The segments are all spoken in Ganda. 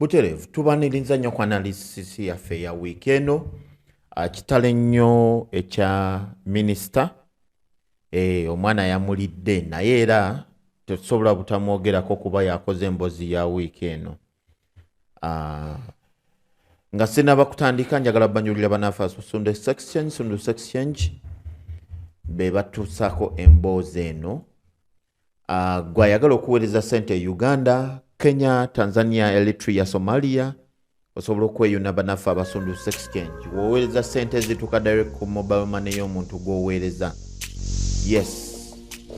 butereevu tubaniriza nnyo ku analysis yaffe ya wiiki eno ah, kitalo ennyo ekya minisita e, omwana yamulidde naye era tetusobola butamwogerako kuba yakoze embozi ya wiiki eno ah, nga sinaba kutandika njagala banyulira banafe sundu exchange sundu exchange be batuusako emboozi eno uh, gwe ayagala okuweereza sente e uganda kenya tanzania eritrea somalia osobola okweyuna banaffe abasundu sex change woweereza sente ezituuka direct ku mobile money y'omuntu gwoweereza yes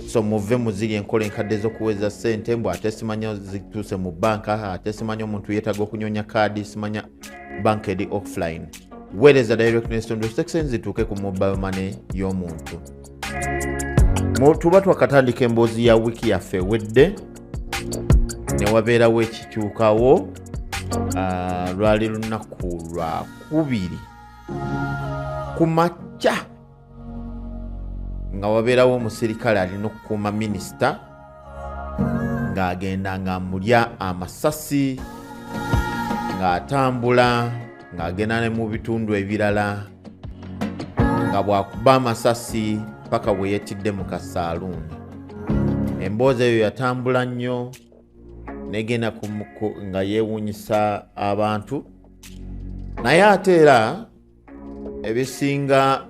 so muve muziri enkola enkadde ezokuweereza sente mbu ate simanya zituuse mu banka ate simanya omuntu yeetaaga okunyonya kaadi simanya banka eri offline weereza direct nekitundu section zituuke ku mobile money y'omuntu tuba twakatandika emboozi ya wiiki yaffe wedde newabeerawo ekikyukawo ah, lwali lunaku lwakubiri ku makya nga wabeerawo omuserikale alina okukuuma minisita ng'agenda ng'amulya amasasi ng'atambula ng'agenda ne mu bitundu ebirala nga bwakuba amasasi paka bwe yetidde mu kasaaluuni emboozi eyo yatambula nnyo negenda nga yeewuunyisa abantu naye ate era ebisinga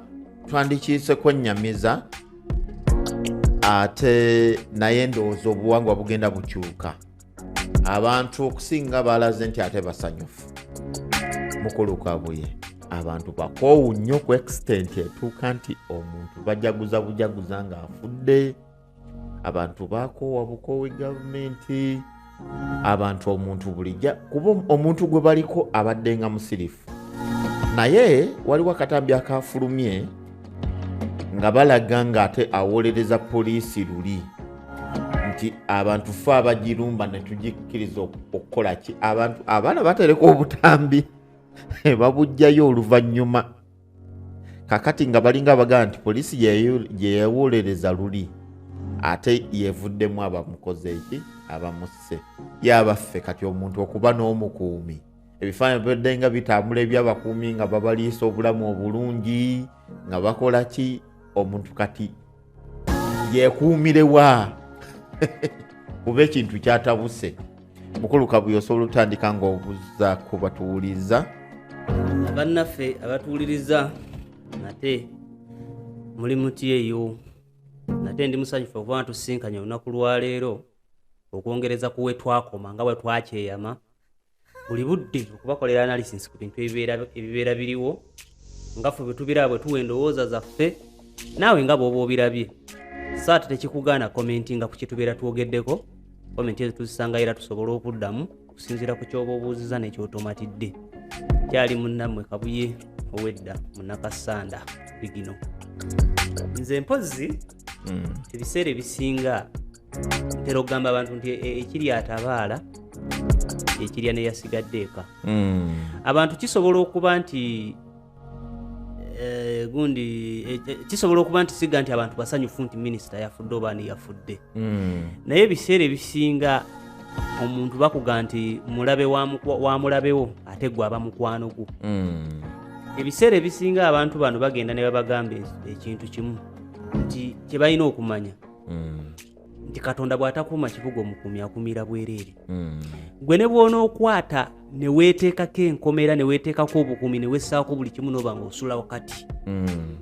twandikiise kwennyamiza ate naye ndowooza obuwangwa bugenda bukyuka abantu okusinga balaze nti ate basanyufu mukulu kabuye abantu bakoowu nnyo ku extent etuuka nti omuntu bajaguza bujaguza ng'afudde abantu bakoowa bukoowi gavumenti abantu omuntu bulijja kuba omuntu gwe baliko abadde nga musirifu naye waliwo akatambi akafulumye nga balaga ng'ate awolereza poliisi luli nti abantu fe abagirumba netugikkiriza okukola ki abantu abaana batereka obutambi babujjayo oluvannyuma kakati nga balinga abagamba nti poliisi gyeyewolereza luli ate yevuddemu abamukoze eki abamusse yabaffe kati omuntu okuba n'omukuumi ebifaananyi bibadde nga bitambula ebyabakuumi nga babaliisa obulamu obulungi nga bakola ki omuntu kati yekuumire wa kuba ekintu kyatabuse mukulu kabuye osobola otandika nga obuza ku batuwuliza abannaffe abatuwuliriza nate muli muti eyo nate ndi musanyufu okuba natusinkanya olunaku lwaleero okwongereza kuwe twakoma nga bwe twakyeyama buli budde okubakolera analysis ku bintu ebibeera biriwo nga fe bwe tubiraba bwe tuwa endowooza zaffe naawe nga bwoba obirabye saati tekikugaana komenti nga ku kyetubeera twogeddeko komenti ezo tuzisanga era tusobola okuddamu okusinziira ku kyoba obuuziza nekyotomatidde kyali munnammwe kabuye owedda munakasanda bigino nze mpozzi hmm. ebiseera ebisinga ntera okugamba abantu nti e, e, ekiri atabaala ekirya neyasigadde eka hmm. abantu kisobola okuba nti eh, gundi eh, eh, kisobola okuba nti siga nti abantu basanyufu nti minisita yafudde oba ani yafudde hmm. naye ebiseera ebisinga omuntu bakuga nti mulabe wa mulabewo ate gwe aba mukwano gwo hmm. ebiseera ebisinga abantu bano bagenda ne babagamba ekintu kimu nti kye balina okumanya mm. nti katonda bw'atakuuma kibuga omukuumi akumira bwereere mm. gwe ne bw'onookwata ne weeteekako enkomera ne weeteekako obukuumi ne wessaako buli kimu nooba nga osula wakati mm.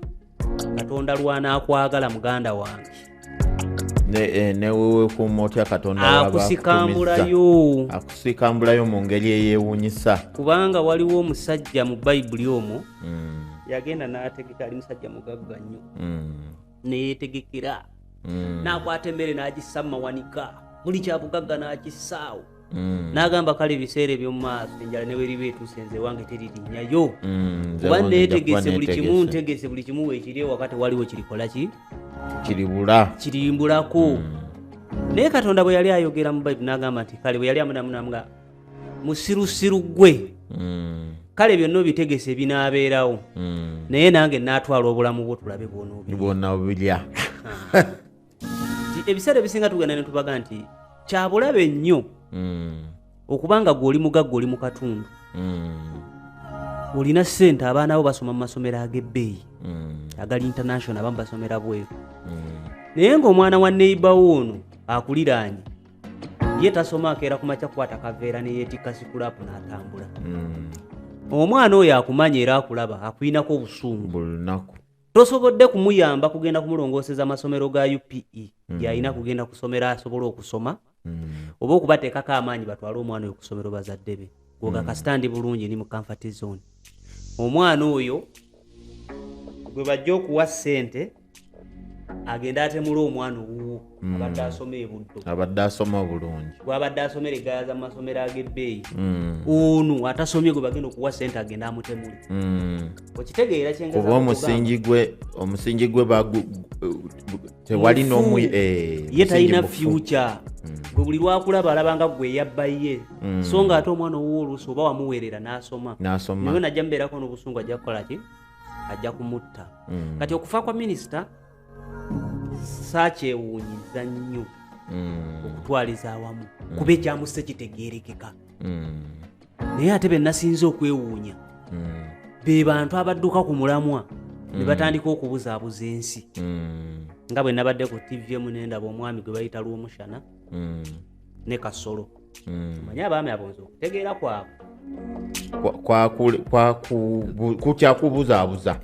katonda lwanaakwagala muganda wange eh, newewekuuma otya katonda akusikambulayo akusikambulayo mu ngeri eyeewunyisa kubanga waliwo omusajja mu bayibuli omwo yagenda n'ategeka ali musajja mugagga nnyo neyetegekera mm. nakwata emmere nagissa mumawanika buli kyabugagga nakissaawo mm. nagamba kale ebiseera ebyomumaaso enjala neweriba etuuse nze ewange teririnyayo mm, kuba netegese buli kimu ntegese buli kimu wekiri ewakati waliwo kirikolaki kiribula kirimbulako naye katonda bwe yali ayogera mu baibu nagamba nti kale bwe yali amunamunamu nga musirusiru gwe mm. kale byonna obitegese binaabeerawo mm. naye nange naatwala obulamu bwo tulabe bwonobilya ah. ebiseera ebisinga tugenda ne tubaga nti kyabulabe nnyo mm. okuba nga gwe oli mugagga oli mu katundu olina ssente abaana bo basoma mu masomero ag'ebbeeyi agali international abamu basomera bweru naye ng'omwana wa neibawo ono akuliraanye ye tasoma akeera ku makya kukwata kaveera ne yeetikka sikulaapu n'atambula hmm. omwana oyo akumanya era akulaba akulinako obusungu buli lunaku tosobodde kumuyamba kugenda kumulongooseza amasomero ga upe mm. gyalina kugenda kusomero asobole okusoma mm. oba okubateekako amaanyi batwale omwana oyo kusomero bazadde be goga mm. kasita ndi bulungi ni mu comfort zone omwana oyo gwe bajja okuwa ssente agenda atemula omwana owuwo hmm. abadde asoma ebuddo abadde asoma bulungi gwabadde asomere gayaza mu masomero ag'ebbeeyi hmm. ono atasomye gwe bagenda okuwa sente agenda amutemule hmm. okitegeera kyenkuba omusingi gwe omusingi gwe tewali nomu eh, ye talina future gwe buli lwakulaba alabanga gwe eyabbaye so nga ate omwana owuwo oluusi oba wamuweerera n'asoma naye najja mubeerako n'obusungu ajja kukola ki ajja kumutta mm. kati okufa kwa minisita sakyewuunyiza nnyo mm. okutwaliza awamu mm. kuba ekyamusse kitegeerekeka mm. naye ate benasinze okwewuunya mm. be bantu abadduka ku mulamwa mm. ne batandika okubuzaabuza ensi mm. nga bwe nabadde ku tv emu nendaba omwami gwe bayita lwomushana mm. ne kasolo mm. manye abaami abonza okutegeera kwabwe kukyakubuzaabuza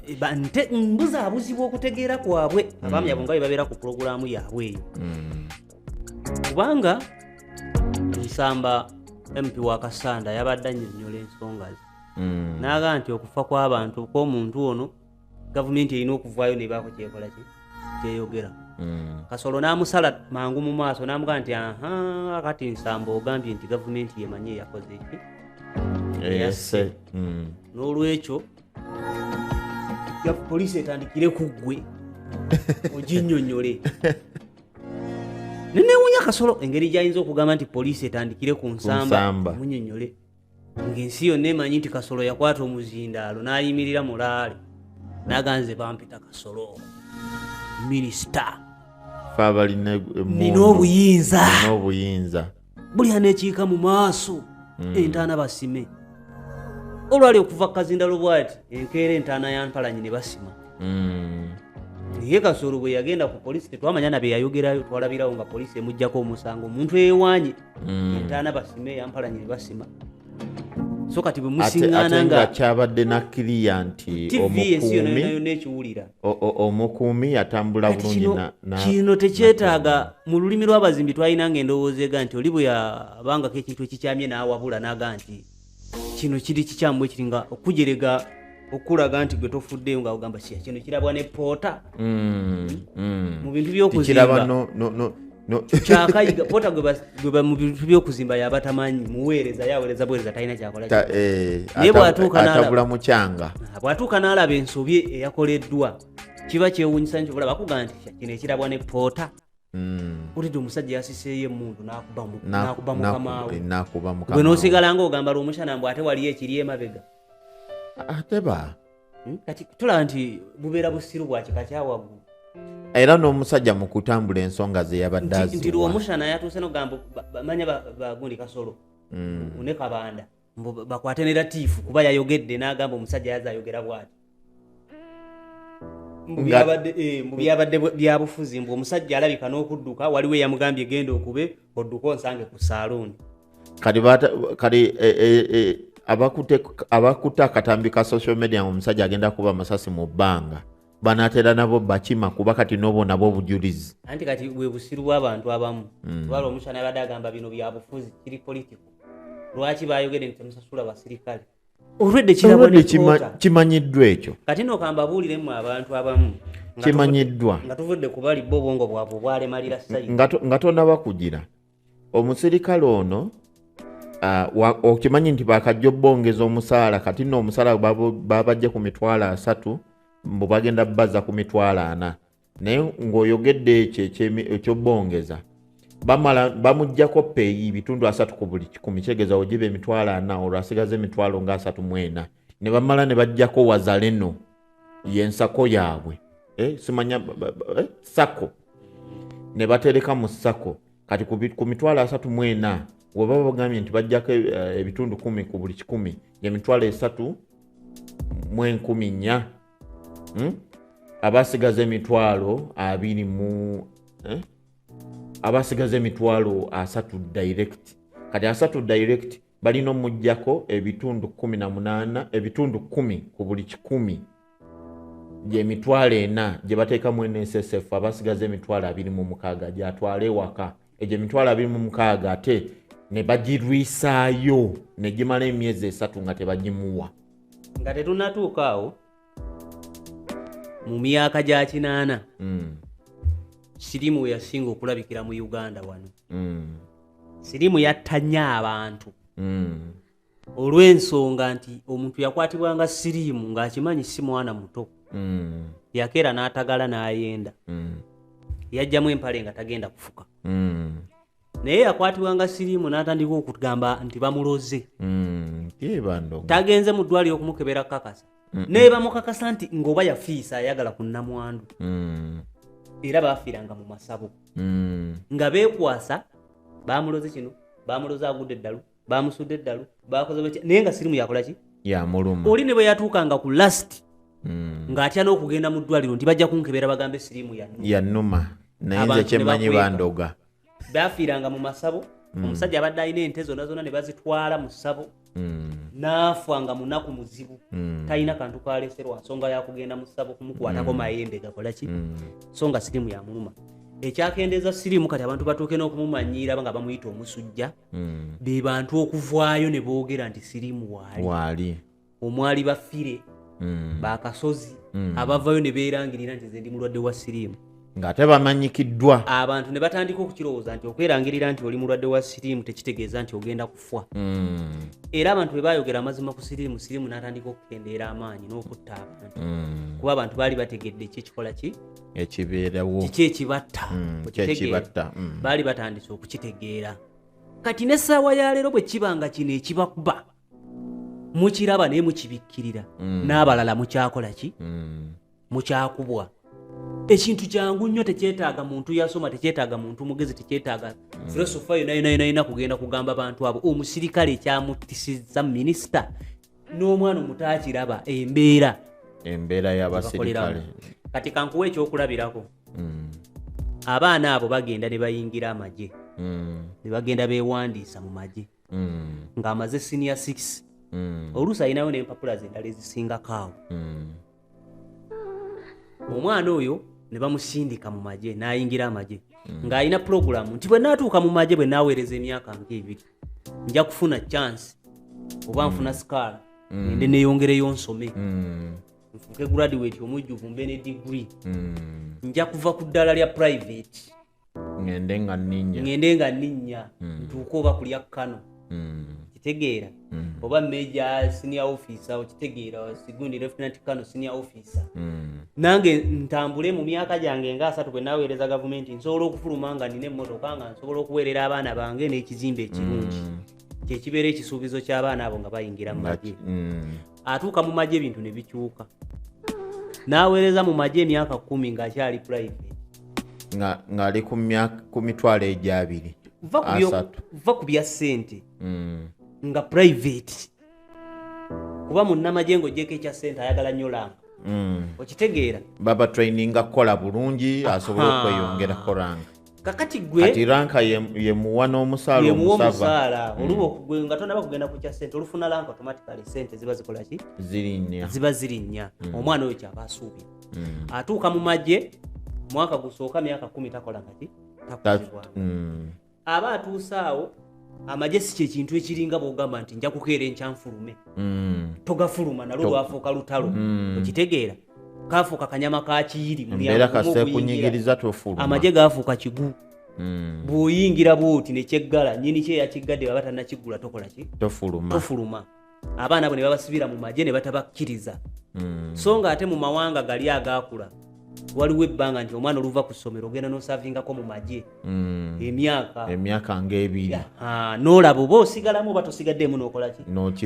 mbuzaabuzibwa okutegeera kwabwe mm. abaami abo nga bebabeera ku pulogulaamu yaabwe eyo mm. kubanga nsamba mp wa kasanda yabadde anyonyola ensonga ze mm. naaga nti okufa kw'abantu kw'omuntu ono gavumenti erina okuvaayo nebaako kyekola ki kyeyogera mm. kasolo n'amusala mangu mu maaso n'amugaa nti aha kati nsamba ogambye nti gavumenti yemanyi eyakoze eki eyase mm. n'olwekyo poliisi etandikire ku ggwe oginyonyole nenewunya kasolo engeri gyayinza okugamba nti poliisi etandikire ku nsamba munyonyole ng'ensi yonna emanyi nti kasolo yakwata omuzindaalo n'ayimirira mulaale naganze bampita kasolo minisita fe abalina nina obuyinza obuyinza buli anekiika mu maaso hmm. entaana basime olwali okuva kukazindalo bwati enkeera entaana ya mpalanyi ne basima hmm. naye kasolo bwe yagenda ku polisi tetwamanya na bye yayogerayo twalabirawo nga polisi emugjako omusango omuntu eyewaanye mm. entaana basime eyampalanyiri basima so kati bwe musiŋŋaana nga kyabadde nakkiriya nti omukuumiekiwulira omukuumi yatambula bulungi kino tekyetaaga mu lulimi lw'abazimbi twalina nga endowooza ega nti oli bwe yabangako ekintu ekikyamye n'awabula n'aga nti kino kiri kikyamu ekiri nga okujerega okulaga nti gwe tofuddeyo nga ogamba kiya kino kirabwa ne poota mm, mm. mu bintu byokuzimba kyakayiga pota gweba mu bintu byokuzimba yaba tamanyi muweereza yaweereza buweereza talina kyakola eh, naye bwatuukatabula mukyanga ah, bwatuuka n'alaba ensobi eyakoleddwa kiba kyewunyisa nti olaba kuga nti kino ekirabwa ne poota utidde omusajja yasiseeyo emundu nakuba mukamaawe gwe nosigala nga ogamba lwomushana mbu ate waliyo ekiri emabega ateba hmm? kati tulaba nti bubeera busiru bwakika kyawaggulu era n'omusajja mu kutambula ensonga ze yabadde azinti lwomushana yatuuse nogamba manya bagundi kasolo hmm. ne kabanda mbu bakwate ne latifu kuba yayogedde n'agamba omusajja yaza ayogera bwati Eh, mubyabadde byabufuzi mbu omusajja alabika n'okudduka waliwo eyamugambye genda okube odduka onsange ku saaluuni kati eh, eh, abakutte akatambi ka social media nga omusajja agenda kuba amasasi mu bbanga banatera nabo bakima kuba kati nobo nabo obujulizi anti kati bwebusiru bwabantu abamu mm. lwala omusana abadde agamba bino byabufuzi kiri politiko lwaki bayogede nti temusasula basirikale olwedde kimanyiddwa ekyo kati nokamba buuliremu abantu abamu kimanyiddwa nga tuvudde kubali bo obwongo bwabwe obwalemalira sayi nga tonaba kugira omusirikale ono okimanyi nti bakajja obbongeza omusaala kati no omusaala babajja ku mitwalo asatu mbu bagenda baza ku mitwalo ana naye ng'oyogedde ekyo ekyobbongeza bamala bamujjako peeyi bitundu asatu ku buli kikumi kitegeeza ogiba emitwalo ana olwo asigaza emitwalo nga asatu mwena ne bamala ne bajjako wazaleno yensako yaabwe eh, simanya eh, sako ne batereka mu sako kati ku mitwalo asatu mu ena webaba bagambye nti bajjako eh, ebitundu kumi ku buli kikumi emitwalo esatu mu enkumi nnya hmm? abasigaza emitwalo abiri mu eh? abasigaza emitwalo asatu direct kati asatu direct balina omujjako ebitundu kumi na munaana ebitundu kumi ku buli kikumi gyemitwalo ena gye bateekamu nssf abasigaza emitwalo abiri mu mukaaga gyatwala ewaka egyo emitwalo abiri mu mukaaga ate ne bagirwisaayo ne gimala emyezi esatu nga tebagimuwa nga tetunatuuka awo mu myaka gya kinaana mm. sirimu we yasinga okulabikira mu uganda wano mm. sirimu yattanye abantu mm. olw'ensonga nti omuntu yakwatibwanga siriimu ng'akimanyi si mwana muto mm. yakeera n'atagala n'ayenda mm. yajjamu empale nga tagenda kufuka mm. naye yakwatibwa nga siriimu n'atandika okugamba nti bamuloze mm, tagenze mu ddwaliro okumukebera kukakasa naye bamukakasa nti ng'oba yafiisa ayagala ku nnamwandu mm. era baafiiranga mu masabo mm. nga beekwasa bamuloze kino bamuloze agudde eddalu bamusudde eddalu bakoze batya naye nga sirimu yakola ki yamuluma oli ne bwe yatuukanga ku last mm. ng'atya n'okugenda mu ddwaliro nti bajja kunkebera bagambe sirimu yannuma naye nze kyemmanyi bandoga baafiiranga mu masabo mm. omusajja abadde alina ente zonna zonna ne bazitwala mu ssabo mm. naafa nga munaku muzibu mm. talina kantu kaleserwa nsonga yakugenda mu ssabo kumukwatako mm. mayembe gakola ki mm. so nga sirimu yamuluma ekyakendeeza sirimu kati abantu batuuke n'okumumanyiira nga bamuyita omusujja mm. be bantu okuvaayo ne boogera nti siriimu waali omwali bafire mm. bakasozi mm. abavayo ne beerangirira nti zendi mulwadde wa siriimu ng'ate bamanyikiddwa abantu ne batandika okukirowooza nti okwerangirira nti oli mulwadde wa siriimu tekitegeeza nti ogenda kufa mm. era abantu bwe baayogera amazima ku siriimu siriimu n'atandika okukendeera amaanyi n'okutta abantu mm. kuba abantu baali bategedde ki ekikola ki ekibeerawo kiki ekibatta mm, kyekibatta mm. baali batandise okukitegeera kati n'essaawa ya leero bwe kiba nga kino ekibakuba mukiraba naye mukibikkirira mm. n'abalala mukyakola ki mm. mukyakubwa ekintu kyangu nnyo tekyetaaga muntu yasoma tekyetaaga muntu mugezi tekyetaaga mm. filosofa yonayonayonayina kugenda kugamba bantu abo omusirikale ekyamutisizza minisita n'omwana omuto akiraba embeera embeera y'abaserikale kati kankuwa ekyokulabirako mm. abaana abo bagenda ne bayingira amagye mm. ne bagenda beewandiisa mu magye mm. ng'amaze siniya 6 oluusi alinayo n'empapula zendala ezisingako awo omwana oyo ne bamusindika mu magye n'ayingira amagye ng'alina pulogulaamu nti bwe naatuuka mu magye bwe naaweereza emyaka ng'ebiri nja kufuna chance oba nfuna mm. sikaala mm. ende neyongereyo nsome mm. nfuuke graduate omujjuvu mbe ne degree nja kuva ku ddala lya private ngende nga ninya ngende nga ninya ntuuke oba kulya kano kitegeera oba major senior officer okitegeera sigundi lieutenant kano senior officer hmm. nange ntambule mu myaka gyange nga asatu bwe naweereza gavumenti nsobola okufuluma nga nina emmotoka nga nsobola okuweerera abaana bange n'ekizimba ekirungi hmm. kyekibeera ekisuubizo ky'abaana abo nga bayingira mu magye hmm. atuuka mu magye ebintu ne bikyuka n'aweereza mu magye emyaka kumi ng'akyali purayiveti ng'ali ku mitwalo egyabiri va ku bya ssente nga private kuba munnamagye ng'ogyeko ekya ssente ayagala nnyo lamba mm. okitegeera baba traininga kukola bulungi asobole okweyongera koranga kakati gwekati ranka yemuwa n'omusaalaayemuwa omusaala mm. oluba okugwe nga tonaba kugenda ku kya ssente olufuna lanka automatically ssente ziba zikola ki zirinnya ziba zirinnya mm. omwana oyo kyaba asuubira atuuka mu magye mwaka gusooka myaka kumi takola kati takuzibwa aba atuuse awo amagye si kyekintu ekiringa bwogamba nti nja kukeera enkyanfulume mm. togafuluma nalwo lwafuuka lutalo mm. okitegeera kafuuka kanyama kakiyiri amagye gafuuka kigu mm. bwoyingira bwoti nekyeggala nyini kyeyakiggade baba tanakiggula tokolaki tofuluma abaana abo ne babasibira mu magye ne batabakkiriza hmm. so nga ate mu mawanga gali agaakula waliwo ebbanga nti omwana oluva ku ssomero ogenda nosavingako mu magye hmm. emyaka emyaka ngaebiri noolaba oba osigalamu oba tosigaddeemu nokolaki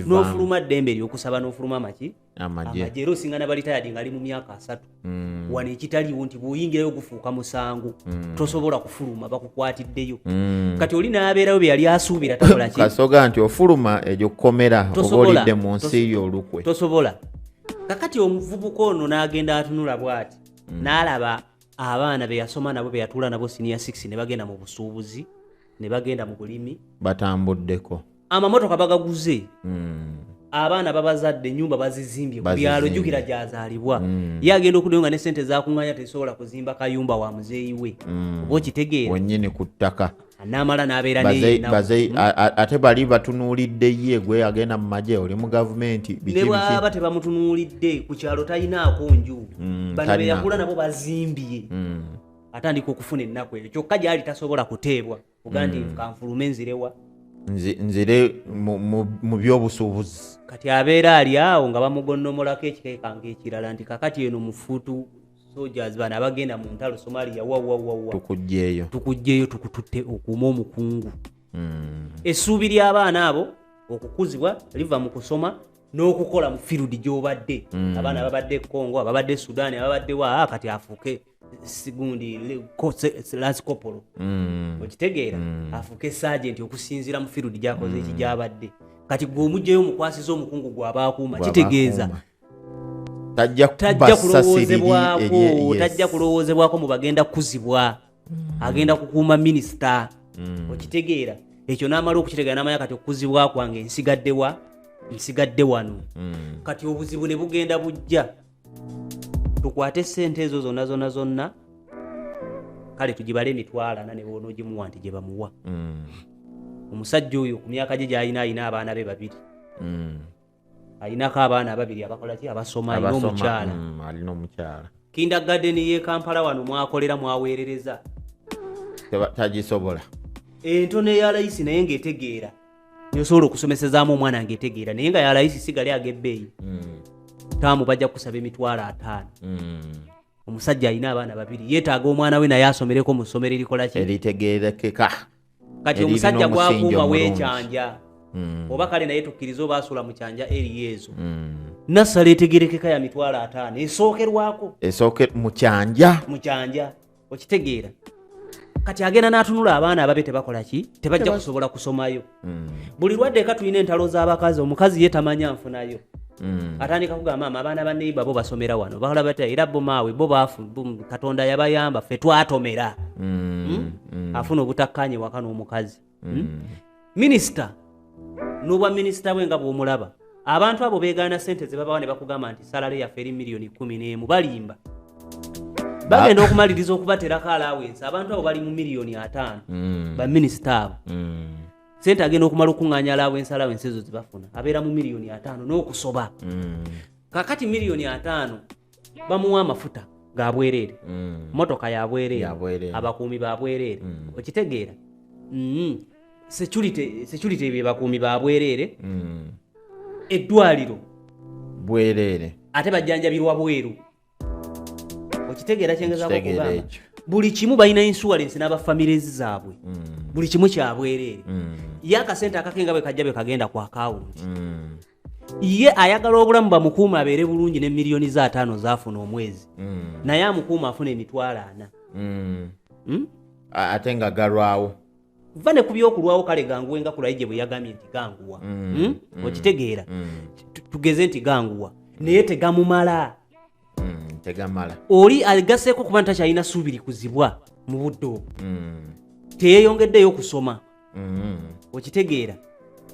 nofuluma ddembe eryokusaba nofuluma maki amagye lusinga nabalitayadi ngaali mu myaka asatu mm. wano ekitaliwo nti bwoyingirayo gufuuka musango mm. tosobola kufuluma bakukwatiddeyo mm. kati oli nabeerayo beyali asuubira takolakasoga nti ofuluma egyo kukomera oba olidde mu nsi yo olukwe tosobola kakati omuvubuka ono n'agenda atunula bwati mm. n'alaba abaana beyasoma nabo beyatuula nabo siniya 6 ne bagenda mu busuubuzi ne bagenda mu bulimi batambuddeko amamotoka bagaguze mm. abaana babazadde enyumba bazizimbye ku byalo jukira gyazaalibwa mm. ye agenda okudayo nga ne sente zakunganya tesobola kuzimba kayumba wa muzeeyi we mm. oba okitegeera wenyini ku ttaka namala nabeera mm. ate bali batunuulidde ye gwe agenda mu magye oli mu gavumenti nebwaba tebamutunuulidde ku kyalo talinaako nju mm, bano beyakula nabo bazimbye mm. atandika okufuna ennaku eyo kyokka gyali tasobola kuteebwa ogandi mm. kanfulume nzirewa nzire mu byobusuubuzi kati abeera ali awo nga bamugonnomolako ekikekanga ekirala nti kakati eno mufutu sojas bano abagenda mu ntalo somalia wawawawa tukugjeyo tukugjeyo tukututte okuuma omukungu mm. essuubi ly'abaana abo okukuzibwa liva mu kusoma n'okukola mu firudi gy'obadde mm. abaana babadde e congo ababadde e sudan ababadde wa ah, kati afuuke sigundi lasikopolo mm. okitegeera mm. afuuke sajenti okusinziira mu firudi gyakoze eki mm. gyabadde kati gwe omugjayo omukwasiza omukungu gwaba akuuma kitegeeza tajja kulowoozebwako tajja kulowoozebwako mu bagenda kukuzibwa agenda kukuuma minisita okitegeera ekyo n'amala okukitegeera n'amanya kati okukuzibwa kwange nsigaddewa nsigadde wano kati obuzibu ne bugenda bujja tukwate sente ezo zonna zonna zonna kale tugibale emitwalo ana nebwonogimuwa nti gyebamuwa mm. omusajja oyo ku myaka gye gyalina alina abaana be babiri mm. alinako abaana ababiri abakolaki abasoma alina omukyala mm, alina omukyala kinda gadeni ye kampala wano mwakolera mwaweerereza tagisobola entono eya layisi naye ngaetegeera nsobola okusomesezaamu omwana ngaetegeera naye nga yalayisi sigale agebbeeyi mm. taamu bajja kusaba emitwalo ataano mm. omusajja alina abaana babiri yeetaaga omwana we naye asomereko mu ssomero erikolaki eritegeerekeka kati omusajja gwakuuma wekyanja mm. oba kale naye tukkiriza oba asula mu kyanja eriyo ezo nassala etegerekeka ya mitwalo ataano esookerwako esooke mu kyanja mu kyanja okitegeera kati agenda n'atunula abaana ababe tebakola ki tebajja kusobola kusomayo mm. buli lwaddeka tulina entalo z'abakazi omukazi ye tamanya nfunayo mm. atandika kugamba ama abaana ba neiba bo basomera wano bakola bata era bo maawe bo baafu katonda yabayamba ffe twatomera mm. hmm? afuna obutakkaanya ewaka n'omukazi hmm? mm. minisita n'obwa minisita bwe nga bw'omulaba abantu abo beegaana sente ze babawa ne bakugamba nti salale yaffe eri miliyoni kumi n'emu balimba bagenda okumaliriza okubaterako alawensi abantu abo bali mu miliyoni ataano mm. baminisita abo mm. sente agenda okumala okuŋŋanya alawensi alawensi ezo zebafuna abeera mu miliyoni ataano n'okusoba mm. kakati miliyoni ataano bamuwa amafuta ga bwereere mm. motoka ya bwereere abakuumi ba bwereere mm. okitegeera mm. security ebyo bakuumi ba bwereere eddwaliro bwereere ate bajjanjabirwa bweru okitegeera kyengezako kugamba buli kimu balina insurance n'aba families zaabwe buli kimu kyabwereere ye akasente akake nga bwe kajja bwe kagenda ku akawunti ye ayagala obulamu bamukuuma abeere bulungi ne miliyoni za ataano zaafuna omwezi mm. naye amukuuma afuna emitwalo ana mm. hmm? ate nga galwawo va ne ku byokulwawo kale ganguwe nga kulayije bwe yagambye nti ganguwa mm. hmm? mm. okitegeera mm. tugeze nti ganguwa naye tegamumala mm. tegamala oli agaseeko kuba nti takyalina suubiri kuzibwa mu budde obwo mm. teyeyongeddeyo okusoma mm. okitegeera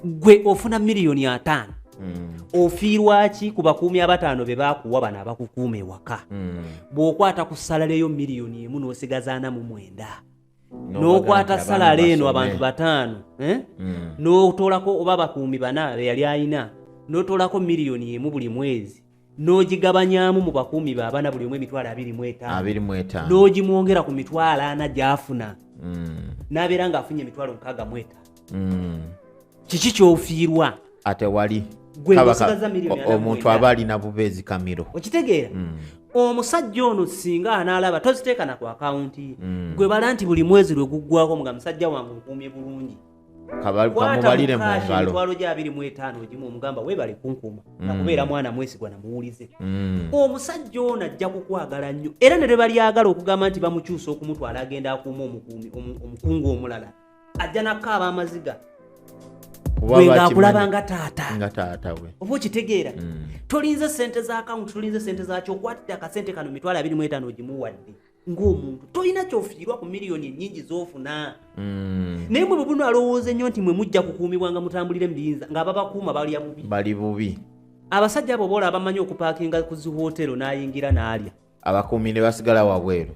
gwe ofuna miliyoni ataano mm. ofiirwaki ku bakuumi abataano be bakuwa bano abakukuuma ewaka mm. bw'okwata ku salaleyo miliyoni emu n'osigazaana mu mwenda n'okwata salala eno abantu bataano eh? mm. n'otoolako oba bakuumi bana be yali alina n'otoolako miliyoni emu buli mwezi n'ogigabanyaamu mu bakuumi ba bana buli omu emitwalo abiri mu etaano n'ogimwongera ku mitwalo ana gy'afuna mm. n'abeera ng'afunye emitwalo mukaaga mu etaano mm. kiki ky'ofiirwa ate wali omuntu aba alina buba ezikamiro okitegeera mm. omusajja ono singa anaalaba toziteeka na ku akawunti ye gwe bala nti buli mwezi lwe guggwako nga musajja wange nkuumye bulungi kamubalire mu ngalo emitwalo gya abiri mu etaano ogimu omugamba weebale kunkuuma mm. nakubeera mwana mwesigwa namuwulize mm. omusajja ono ajja kukwagala nnyo era ne lwebalyagala okugamba nti bamukyusa okumutwala agenda akuuma omukuumi omukungu omulala ajja nakaaba amaziga ngaakulaba nga taata oba okitegeera mm. tolinze sente za akawunti tolinze sente zakyo okwatte akasente kano mitwalo abiri mu etaano ogimuwadde ng'omuntu tolina kyofiirwa ku miliyoni ennyingi z'ofuna mm. naye mwe bwebuno alowooza ennyo nti mwe mujja kukuumibwa nga mutambulire mu biyinza ng'ababakuuma balya bubi bali bubi abasajja abo boola abamanyi okupaakinga ku ziwootero n'ayingira n'alya abakuumi ne basigala wabweru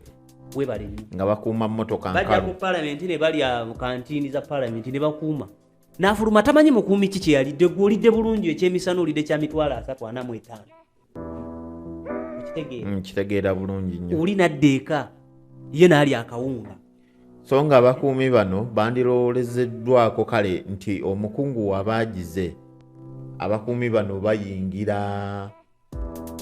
webale nnyo nga bakuuma mmotoka bajja ku palamenti ne balya kantiini za palamenti ne bakuuma n'afuluma tamanyi mukuumi ki kye yalidde gw'olidde bulungi ekyemisana olidde kya mitwalo asatu ana mu etaano mm, kitegeera bulungi nyo oli nadda eka ye naali akawunga so nga abakuumi bano bandirowolezeddwako kale nti omukungu wabaagize abakuumi bano bayingira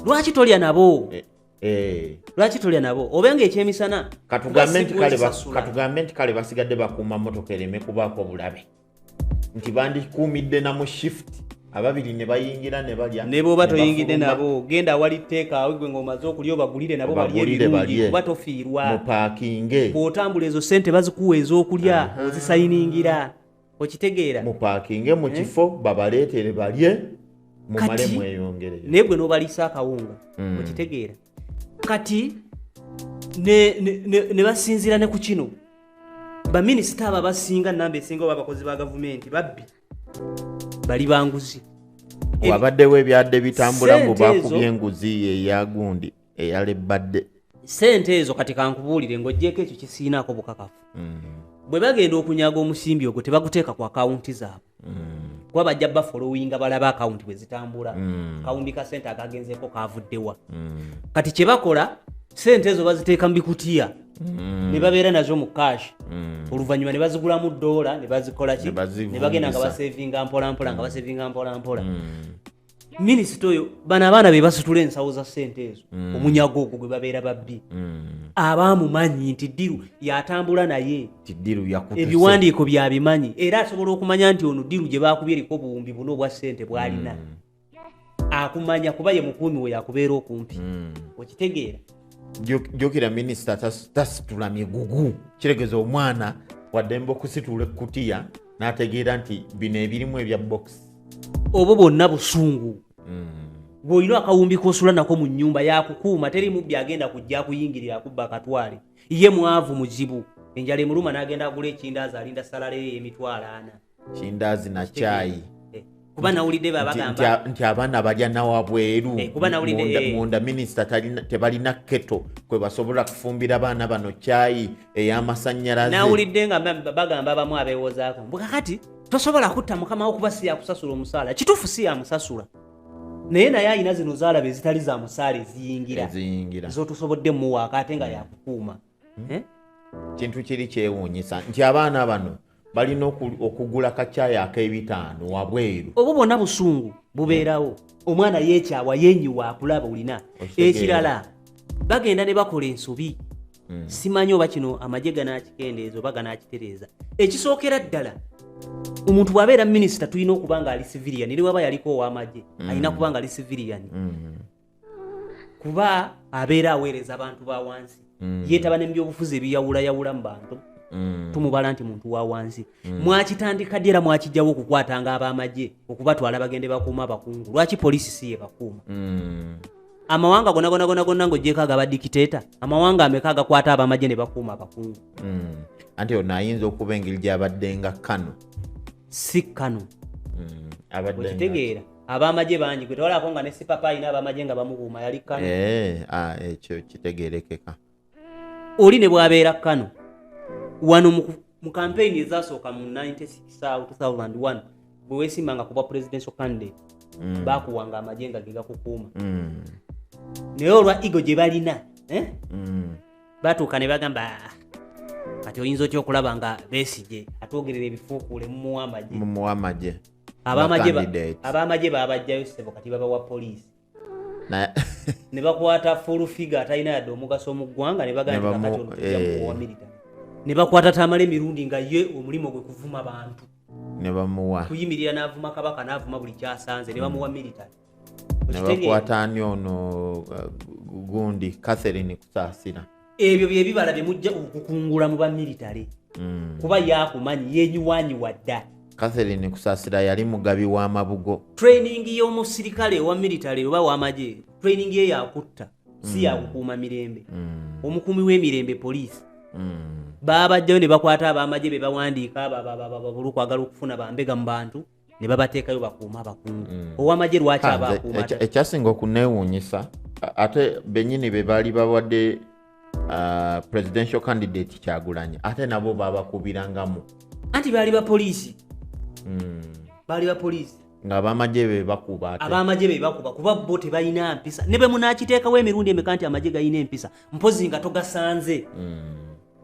lwaki tolya nabo eh, eh. lwaki tolya nabo oba nga ekyemisana katugambe nti kale basigadde bakuuma motoka ereme kubaako bulabe nti bandikuumidde na mu shift ababiri ne bayingira ne balya ne bwoba toyingidde nabo genda awali tteeka awe gwe ng'omaze okulya obagulire nabo balye ebirungi kuba tofiirwa mupaakinge bw'otambula ezo ssente bazikuwa ez'okulya ozisayiningira okitegeera mupaakinge mu eh? kifo babaleetere balye mumale mweyongereyo naye gwe n'obaliisa akawunga hmm. okitegeera kati ne basinziira ne ku kino baminisita abo abasinga namba esinga oba abakozi ba gavumenti babbi bali banguzi wabaddewo ebyadde bitambula mbu bakubye enguzi eyagundi eyalebbadde sente ezo kati kankubuulire ng'ogyeko ekyo kisiinaako bukakafu mm. bwe bagenda okunyaga omusimbi ogwo tebaguteeka ku akawunti zaabwe mm. kuba bajja bafolowinga balaba akawunti bwe zitambula mm. kawundi ka sente agagenzeeko kavuddewa kati kye bakola sente ezo baziteeka mu bikutiya ne babeera nazo mu kashi oluvannyuma ne bazigulamu doola ne bazikolaki ne bagenda nga basevinga mpolampola nga basevinga mpolampola minisita oyo bano abaana be basitula ensawo za sente ezo mm. omunyago ogwo gwe babeera babbi mm. abaamumanyi nti ddiru yatambula naye ebiwandiiko byabimanyi era asobola okumanya nti ono ddiru gye baakubye eriko obuwumbi buno obwa sente bwalina mm. akumanya kuba ye mukuumi we yakubeera okumpi okitegeera jjukira minisita tasitula migugu kiregeza omwana waddembe okusitula ekkutiya n'ategeera nti bino ebirimu ebya box obwo bwonna busungu bw'olina mm. akawumbi k'osula nako mu nnyumba yakukuuma teri mubbi agenda kujja akuyingirira akubba akatwale ye mwavu muzibu enjala emuluma n'agenda agula ekindaazi alinda salaleyo emitwalo ana kindaazi na caayi kuba nawulidde babagamba nti abaana balya nawabweru eh, kuba nawulidde eh. munda minisita tebalina keto kwe basobola kufumbira abaana bano kyayi ey'amasannyalaze nawulidde nga bagamba abamu abeewozaako mbu kakati tosobola kutta mukama wo kuba siyakusasula omusaala kituufu siyamusasula naye naye alina zino zaalaba ezitali za musaala eziyingira zotusobodde muwaaka ate nga yakukuuma hmm? eh? kintu kiri kyewuunyisa nti abaana bano balina okugula kacayi ak'ebitaano wabweru obwo bwonna busungu bubeerawo omwana yeekyawa yenyiwa akulaba olina ekirala bagenda ne bakola ensobi hmm. simanyi oba kino amagye ganakikendeeza oba ganakitereeza ekisookera ddala omuntu bw'abeera minisita tulina okuba nga ali civilian eri waba yaliko ow'amagye hmm. alina kuba nga ali civilian hmm. kuba abeera aweereza abantu ba wansi mm. yeetaba ne mubyobufuzi ebiyawulayawula mu bantu mm. tumubala nti muntu wa wansi mm. mwakitandika ddi era mwakijjawo okukwatanga ab'amagye okubatwala bagende bakuuma abakungu lwaki poliisi si ye bakuuma mm. amawanga gonagonagonagona ngaogyeko aga badikiteeta amawanga ameka agakwata abamagye ne bakuuma abakungu hmm. anti ono ayinza okuba engeri gyabadde nga kano si kano hmm. okitegeera abamagye bangi gwe tewalako nga ne sipapa alina abamagye nga bamubuuma yali kano eh, ah, ekyo kitegerekeka oli ne bwabeera kano wano mu kampeyini ezasooka mu 1961 bwe wesimbanga kubwa presidential candidate mm. bakuwanga amagye nga ge gakukuuma mm. naye olwa ego gye balina eh? mm. batuuka ne bagamba ah, kati oyinza otya okulaba nga besigye atwogerera ebifuukuule mumuwa amagye abamagye babajjayo sebo kati babawa poliisi ne bakwata fulufiga atalina yadde omugaso mu ggwanga ne bagaantiamuwamilita eh. ne bakwata tamala emirundi nga ye omulimu gwe kuvuma bantu nebamuwa kuyimirira n'avuma kabaka n'avuma buli kyasanze ne bamuwa military nebakwata ani ono uh, gundi catherine kusaasira ebyo byebibala byemujja okukungula mu bamiritale mm. kuba yakumanyi yenyiwanyiwa dda catherine kusaasira yali mugabi w'amabugo training y'omusirikale owa miritale oba w'amagye training ye yakutta si mm. yakukuuma mirembe mm. omukuumi w'emirembe poliisi babajjayo ne bakwata abamagye be bawandiika bababababulu kwagala okufuna bambega mu bantu ne babateekayo bakuuma abakungu mm. owamagye lwaki abakuuma ekyasinga okuneewuunyisa ate benyini be baali bawadde uh, presidential candidate kyagulanyi ate nabo babakubirangamu anti baali bapoliisi mm. baali bapoliisi ngaabamagye bebakuba abamagye bebakuba kuba bo tebalina mpisa ne bwe munakiteekawo emirundi emeka nti amagye galina empisa mpozi nga togasanze mm.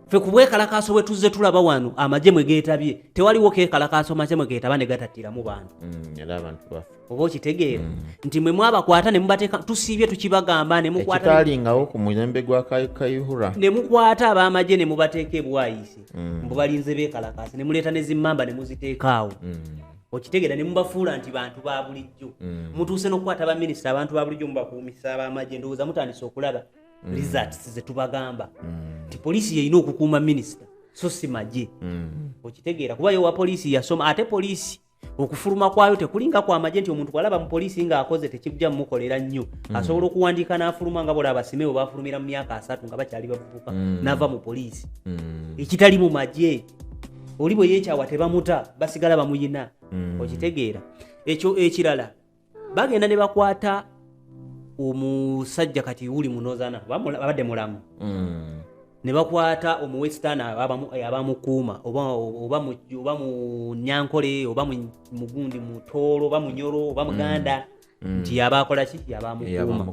fe ku bwekalakaaso bwe tuzze tulaba wano amagye mwe geetabye tewaliwo keekalakaaso magye mwe geetaba ne gatattiramu bantu mm, oba okitegeera mm. nti mwe mwabakwata ne mubateeka tusiibye tukibagamba nemukwatakitalingawo ku mulembe gwa kayihura ne mukwata ab'amagye ne mubateeka ebwayise mm. mbu balinze beekalakaasi ne muleeta ne zimmamba ne muziteekaawo okitegeera ne mubafuula nti bantu ba bulijjo mutuuse n'okukwata baminisita abantu ba bulijjo mubakuumisa ab'amagye ndowooza mutandise okulaba mm. results zetubagamba mm. nti poliisi yeyina okukuuma minisita so si magye mm. okitegeera kuba yowa poliisi yasoma ate poliisi okufuluma kwayo tekulinga kwamagye nti omuntu bwalaba mu poliisi ngaakoze tekijja mumukolera nnyo mm. asobola okuwandiika n'afuluma nga bolaba basime we bafulumira mu myaka asatu nga bakyali bavubuka mm. nava mu poliisi mm. ekitali mu magye oli bwe yekyawa tebamuta basigala bamuyina mm. okitegeera ekyo ekirala bagenda ne bakwata omusajja kati wuli munozana abadde mulamu mm. ne bakwata omuwesitani eh, abamukuuma oba mu nyankole oba mugundi mutoolo oba munyoro oba muganda mm. Mm. nti yaba akola ki yaba amukuuma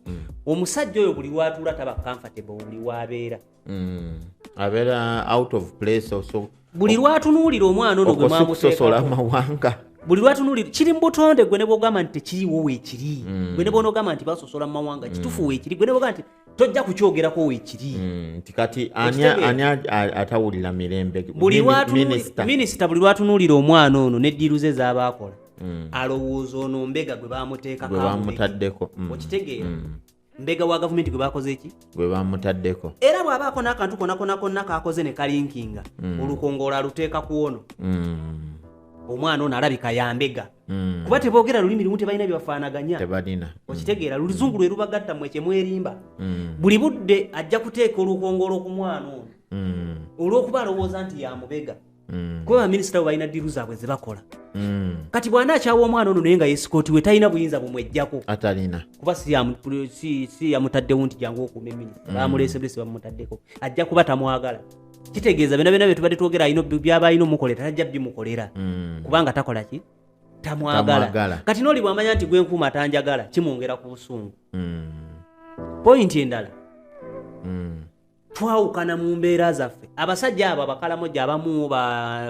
mm. omusajja oyo buli watuula taba comfortable buli wabeera mm. abeera out of place also buli lwatunuulira omwana ono gwe mwamusosola amawanga buli lwatunulira kiri mu butonde gwe ne bwogamba nti tekiriwo weekiri mm. gwe ne bwonogamba nti basosola mu mawanga kitufu mm. weekiri gwe ne bwogamba nti tojja kukyogerako weekiri mm, nti kati ani atawulira mirembe minisita buli lwatunulira omwana ono ne ddiiru ze z'abaakola alowooza ono mbega gwe bamuteekakobamutaddeko okitegeera mbega wa gavumenti gwe bakoze ki gwe bamutaddeko era bw'abaako n'akantu konakona konna kaakoze ne kalinkinga mm. olukongoola aluteeka ku ono mm. omwana ono alabika yambega mm. kuba teboogera lulimi lumu tebalina byebafaanaganya okitegeera luluzungu lwe lubagatta mwe kyemwerimba buli budde ajja kuteeka olukongoola ku mwana ono olw'okuba alowooza nti yamubega mm. kuba baminisita abo balina ddiru zaabwe ze bakola mm. kati bwana akyawa omwana ono naye nga yesikooti we talina buyinza bumwejjako atalina kuba si yamutaddewo nti jangu okuuma eminisita mm. bamuleese bulesi bamumutaddeko ajja kuba tamwagala kitegeeza byona byona byetubadde twogera alina byaba alina omukolera tajja bimukolera mm. kubanga takola ki tamwagala kati noli bwamanya nti gwenkuuma tanjagala kimwongera ku busungu mm. pointi endala mm. twawukana mu mbeera zaffe abasajja abo abakalamoja abamu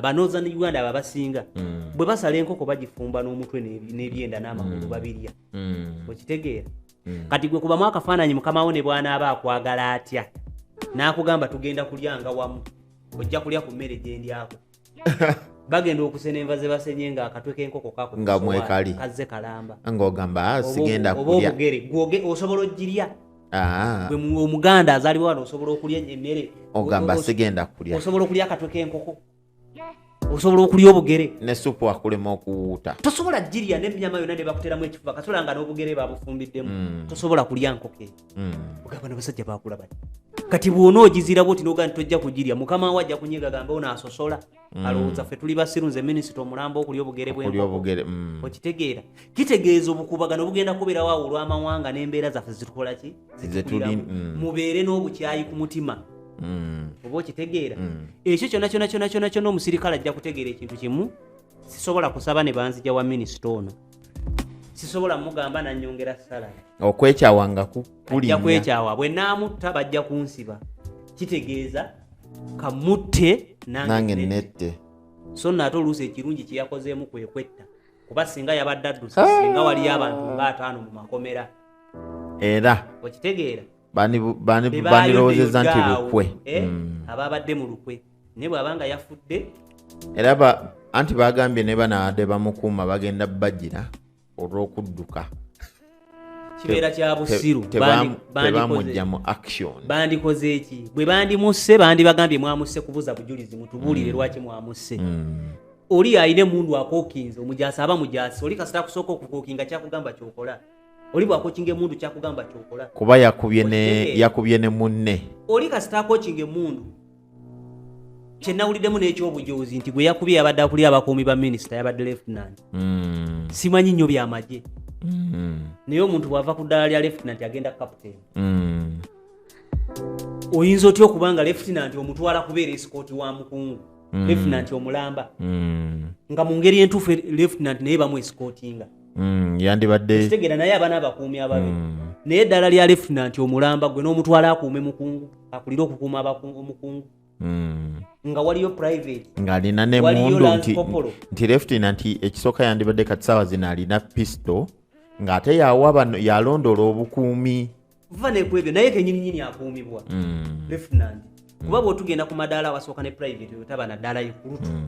banoza ne uganda abo abasinga mm. bwe basala enkoko bagifumba n'omutwe n'ebyenda n'amagulu mm. babirya mm. okitegeera kati gwe kubamu akafaananyi mukamawo ne bwanaaba akwagala atya n'akugamba tugenda kulyanga wamu ojja kulya ku mmere gyendyako bagenda okusena enva ze basenye nga akatwe k'enkoko kako nga mwekali kazze kalamba ng'ogamba ah, sigenda kulya oba obugere gwoge osobola ogirya ah. gwe omuganda azaliwa wano osobola okulya emmere ogamba sigenda kulya osobola okulya akatwe k'enkoko osobola okulya obugere ne supu akulema okuwuuta tosobola girya n'emyama yona ne bakuteramu ekifuba kasobola nga n'obugere babufumbiddemu mm. tosobola kulya nkoko hmm. ogamba nabasajja bakula bati kati bwona ogizirabo oti noga nti tojja kugirya mukama we ajja kunyiga gamba ono asosola hmm. alowooza ffe tuli basiru nze minisita omulamba okulya obugere bwenkobugere hmm. okitegeera kitegeeza obukubagano bugenda kuberawo awo olw'amawanga n'embeera zaffe zitukola ki zitukuliramu mubeere n'obukyayi ku mutima oba okitegeera ekyo kyona kyona kyona kyona kyona omusirikale ajja kutegeera ekintu kimu sisobola kusaba ne banzija wa minisita ono sisobola mugamba nanyongera salary okwekyawa nga kukulinnya kwekyawa bwe naamutta bajja kunsiba kitegeeza kamutte nange nette so nate oluusi ekirungi kyeyakozeemu kwekwetta kuba singa yabadde adduse ah. singa waliyo abantu nga ataano mu makomera era okitegeera bandirowoozeza nti lukwe eh, hmm. ababadde mu lukwe naye bwabanga yafudde era anti bagambye ne banaade bamukuuma bagenda bagira olw'okudduka kibeera kya busiru tebamujja mu action bandikoze eki bwe bandimusse bandibagambye mwamusse kubuza bujulizi mutubuulire mm. lwaki mwamusse mm. oli alina emundu akokinze omujaasi aba mujaasi oli kasita akusooka okukokinga kyakugamba kyokola oli bwakokinga emundu kyakugamba kyokola kuba yakubye ne munne oli kasita akokinga emundu kyenawuliddemu n'ekyobujoozi nti gwe yakubye yabadde akulira abakuumi ba minisita yabadde lefutinanti mm. simanyi nnyo byamagye mm. naye omuntu bw'ava ku ddala lya lefutinanti agenda kaputeni mm. oyinza otya okuba nga lefutinanti omutwala kubeera esikooti wa mukungu mm. lefutinanti omulamba mm. nga mu ngeri entuufu lefutinanti naye bamu esikootinga mm, yandibadde kitegera naye abana abakuumi ababi mm. naye eddala lya lieutenant omulamba gwe n'omutwala akuume mukungu akulire okukuuma abakungu omukungu mm. nga waliyo private ng'alina nemundu nti, nti lieutenant ekisooka yandibadde kati saawa zino alina pisto ng'ate yawa bano yalondoola obukuumi va nekwebyo naye kenyininyini akuumibwa mm. lieutenant kuba bwotugenda ku madaala wasooka ne private otaba nadaala ikulutu mm.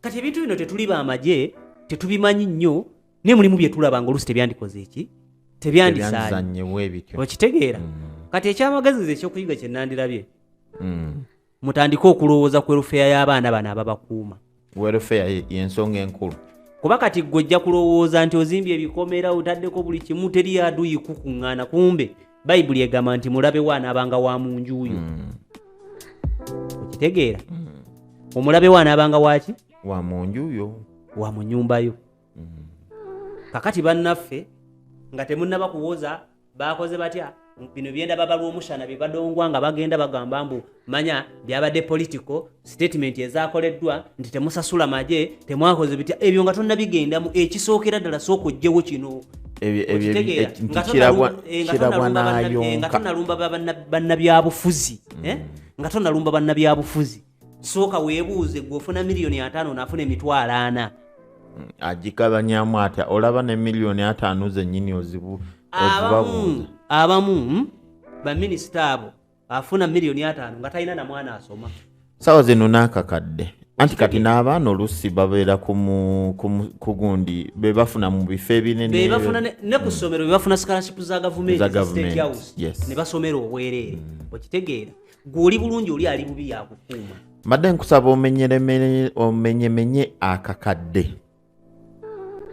kati ebintu bino tetuli bamagye tetubimanyi nnyo naye mulimu byetulaba nga olusi tebyandikoze eki tebyandisanyewebityookitegeera mm. kati ekyamagezi nze ekyokuyiga kyenandirabye mm. mutandike okulowooza ku erufeya y'abaana bano ababakuuma werufeya yensonga enkulu kuba kati gwe ojja kulowooza nti ozimbye ebikomera otaddeko buli kimu teri aduyi kukuŋŋaana kumbe bayibuli egamba nti mulabe we anaabanga wa mu njuuyo mm. okitegeera mm. omulabe we anaabanga waki wa mu njuuyo wa mu nyumba yo mm. kakati bannaffe nga temunnaba kuwoza baakoze batya bino byenda baba lw'omushana bye badongwa nga bagenda bagamba mbu manya byabadde political statement ezakoleddwa nti temusasula maje temwakoze bitya ebyo nga tonnabigendamu ekisookera ddala sooka ojjewo kino nga tonalumba bannabyabufuzi mm. eh? nga tonalumba bannabyabufuzi sooka weebuuze gwe ofuna miliyoni ataano naafuna emitwalo ana mm, agikabanyamu atya olaba ne miliyoni ataano zennyini ozibu abamu abamu hmm? baminisita abo afuna miliyoni ataano nga talina na mwana asoma sawa zino nakakadde anti kati n'abaana olusi babeera kugundi bebafuna mu bifo ebinenebafuna ne ku ssomero bebafuna scholarship za gavumentinebasomera obwereere mm. okitegeera gwe oli bulungi oli ali bubi yakukuuma mbadde nkusaba omenyemenye akakadde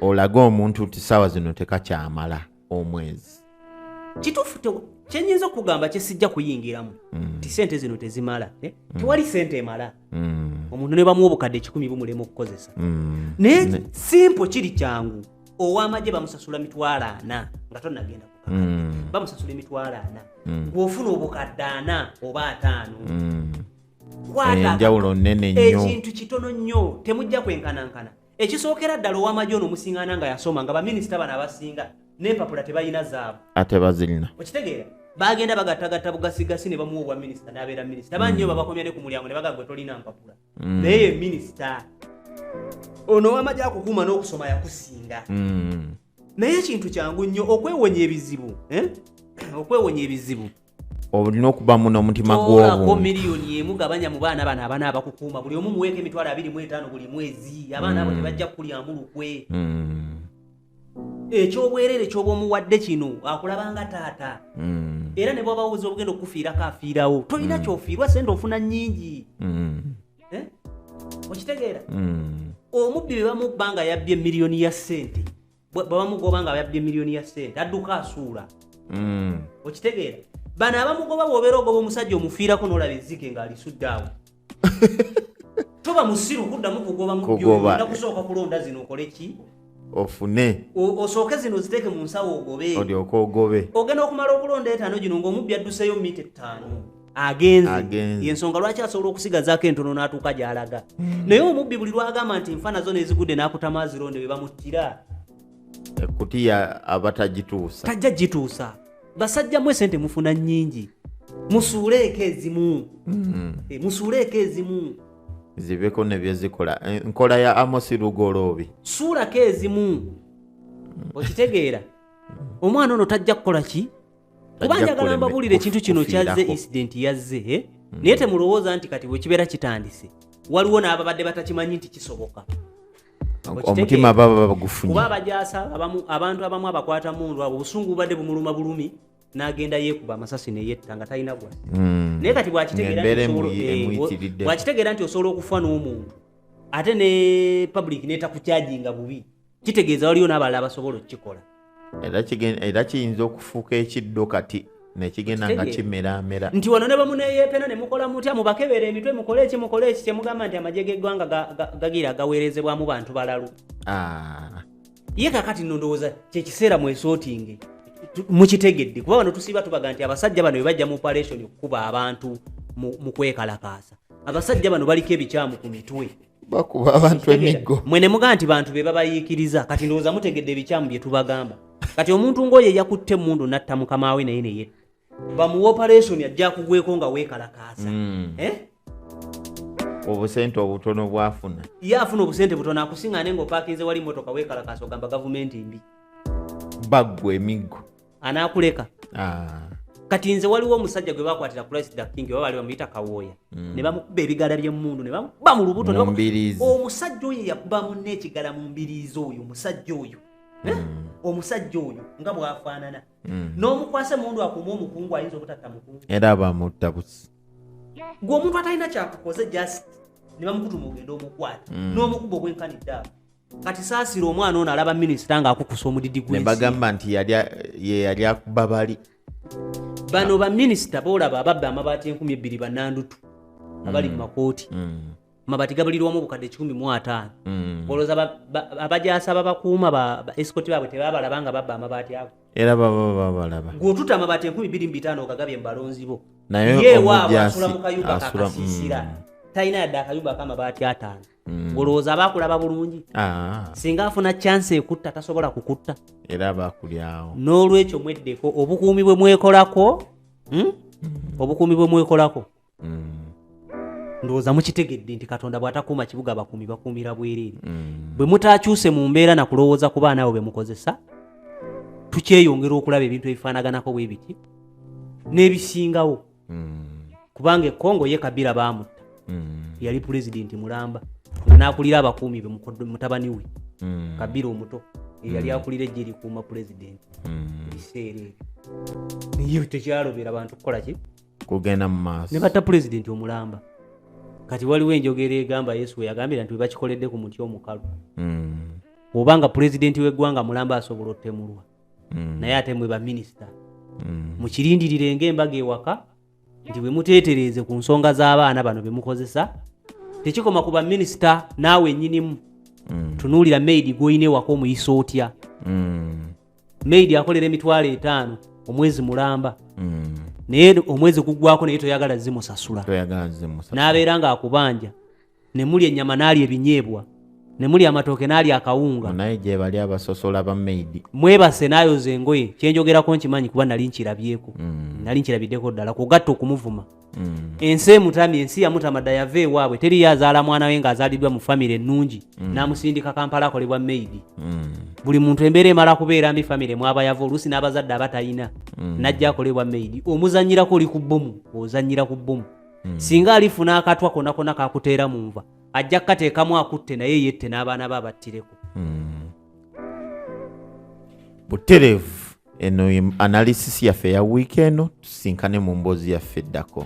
olage omuntu nti saawa zino tekakyamala omwezi kituufu kyenyinza okugamba kyesijja kuyingiramu mm. ti sente zino tezimala eh? mm. tewali sente emala mm. omuntu ne bamuwa obukadde ekikumi bumulema okukozesa naye simpo kiri kyangu owamagye bamusasula mitwalo ana nga tonagenda bamusasula emitwalo ana gweofuna obukadde ana oba ataano enjawulo nene nyo ekintu kitono nyo temujja kwenkanankana ekisookera ddala owamagye ono omusingana nga yasoma nga baminisita bano abasinga nempapula tebalina zaabu ate bazirina okitegeera bagenda bagatagatta bugasigasi ne bamuwa obwa minisita nabeera minisita bangi nyo mm. babakomya ne ku mulyango ne bagagwe tolina mpapula mm. naye ye minisita ono owamagye akukuuma n'okusoma yakusinga mm. naye ekintu kyangu nnyo okwewonya ebizibu eh? okwewonya ebizibu olina okuba mu n'omutima gw'obuntu miliyoni emu gabanya mu baana bano abaana abakukuuma buli omu muweeko emitwalo abiri mu etaano buli mwezi abaana abo mm. tebajja kukulyamu lukwe mm. ekyobwerere kyoba omuwadde kino akulabanga taata mm. era ne bwaba woza obugenda okukufiirako afiirawo tolina kyofiirwa sente ofuna nyingi eh? okitegeera omubbi bebamubba nga yabbye miliyoni ya sente bwebamugoba nga abayabbye miliyoni ya sente adduka asuula mm. okitegeera bano abamugoba bwobeera ogoba omusajja omufiirako nolaba ezike nga alisudde awo toba musiru kuddamu kugoba mubyona kusooka kulonda zino okole ki ofune osooke zino ziteeke mu nsawo ogobe ogenda okumala okulonda etaano gino ngaomubbi adduseeyo mita ettaano agenze yensonga lwaki asobola okusigazaako entono n'atuuka gy'alaga hmm. naye omubbi buli lwagamba nti nfa nazo nezigudde n'akutama azironde be bamuttira ekutiya aba tagituusa tajja gituusa basajja mwe sente mufuna nnyingi musuuleeko ezimu hmm. eh, musuuleeko ezimu zibeko nebyezikola eh, nkola ya amosi lugoloobi suulako ezimu hmm. okitegeera omwana ono tajja kukola ki kuba njagala mbabuulire ekintu kino kyazze incident yazze eh? hmm. naye temulowooza nti kati bwekibeera kitandise waliwo n'ababadde batakimanyi nti kisoboka omutima baba bagufunye kuba abajasa abantu abamu abakwata mundu abo obusungu bubadde bumuluma bulumi nagenda yekuba amasasi neyetta nga talina gwa hmm. naye kati bwakitegeera nti osobola okufa n'omuntu ate ne public netakukyajinga bubi kitegeeza waliyo n'abalala abasobola okukikola era kiyinza okufuuka ekiddo kati nekigenda nga kimeramera nti wano ne bamuneyeepena ne mukola mutya mubakebera emitwe mukole eki mukole eki kyemugamba nti amagye g'eggwanga gagira agaweerezebwamu bantu balalu ah. ye kakati no ndowooza kyekiseera mwesootinge mukitegedde kuba bano tusiiba tubaga nti abasajja bano bebajja mu operation okukuba abantu mu kwekalakaasa abasajja bano baliko ebikyamu ku mitwe bakuba abantu emiggo mwe ne mugaa nti bantu be babayiikiriza kati ndowooza mutegedde ebikyamu bye tubagamba kati omuntu ng'oyo eyakutte emmundu natta mukama we naye neye bamuwa operation ajja kugweko nga weekalakaasa hmm. eh? obusente obutono bwafuna ye afuna obusente butono akusiŋane ng'opakinze wali motoka weekalakaasa ogamba gavumenti mbi baggwa emiggo anaakuleka ah. kati nze waliwo omusajja gwe bakwatira christ the king oba bali bamuyita kawooya mm. ne bamukuba ebigala by'emmundu ne bamukuba mu lubuto omusajja oyo yakuba munna ekigala mu mbiriizi oyo omusajja oyo eh? mm. omusajja oyo nga bwafaanana mm. n'omukwasa emundu akuuma omukungu ayinza obutatta mukungu era bamutta busi gwe omuntu atalina kyakukoze just ne bamukutuma ogenda omukwata n'omukuba ogwenkanidde awo kati saasira omwana ono alaba minisita ng'akukusa omudidi gwe bagamba nti yeyali akuba bali bano baminisita boolaba ababba amabaati enkumi ebbiri banandutu abali mu mm. makooti mm. amabati gabalirwamu obukadde kikumi mu ataano mm. olowooza abajasa babakuuma ba esikoti baabwe tebabalaba nga babba amabaati ago era baba babalaba gwotuta amabaati enkumi bbiri mu bitaano ogagabye mu balonzi bo naye waabwe asula mu kayumba kakasiisira talina yadde akayumba akamabaati ataano mm. olowooza aba akulaba bulungi ah. singa afuna kyansi ekutta tasobola kukutta era aba akulyawo n'olwekyo mweddeko obukuumi bwe mwekolako hmm? mm. obukuumi bwe mwekolako mm. ndowooza mukitegedde nti katonda bw'atakuuma kibuga abakuumi bakuumira bwereere mm. bwe mutaakyuse mu mbeera na kulowooza ku baana abo be mukozesa tukyeyongera okulaba ebintu ebifaanaganako bwe biti n'ebisingawo mm. kubanga ekongo ye kabira bamutta mm. yali pulezidenti mulamba nga nakulira abakuumi be mutabani we mm. kabira omuto eyali mm. akulira ejje likuuma pulezidenti mm. ebiseera ebyo tekyalobera bantu kukola ki kugenda mu maaso ne batta pulezidenti omulamba kati waliwo enjogera egamba yesu weyagambira nti webakikoledde ku muti omukalu mm. oba nga pulezidenti w'eggwanga mulamba asobola otemulwa mm. naye ate mwe baminisita mm. mukirindirire ngaembaga ewaka nti bwe muteetereeze ku nsonga z'abaana bano be mukozesa tekikoma ku baminisita naawe nyinimu mm. tunuulira maidi gwolina ewaka omuyisa otya mm. maidi akolera emitwalo etaano omwezi mulamba mm. naye omwezi guggwako naye toyagala zimusasula n'abeera ng'akubanja ne mulya ennyama n'alya ebinyeebwa ne mulya amatooke n'alya akawunga naye gye bali abasosola ba maidi mwebase n'ayoza engoye kye njogerako nkimanyi kuba nali nkirabyeko mm. nali nkirabiddeko ddala kugatta okumuvuma mm. ensi emutamye ensi yamutama dda yava ewaabwe teriyo azaala mwana we ng'azaaliddwa mu famire ennungi mm. n'amusindika kampala akolebwa maidi buli muntu embeera emala kubeera mbi famire mwaba yava oluusi n'abazadde abatalina najja akolebwa maidi omuzannyirako oli ku bbomu ozannyira ku bbomu hmm. singa alifuna akatwa kona kona kakuteera mu nva ajja kukateekamu akutte naye yette n'abaana be abattireko hmm. butereevu eno analysis yaffe ya wiiki eno tusinkane mu mboozi yaffe eddako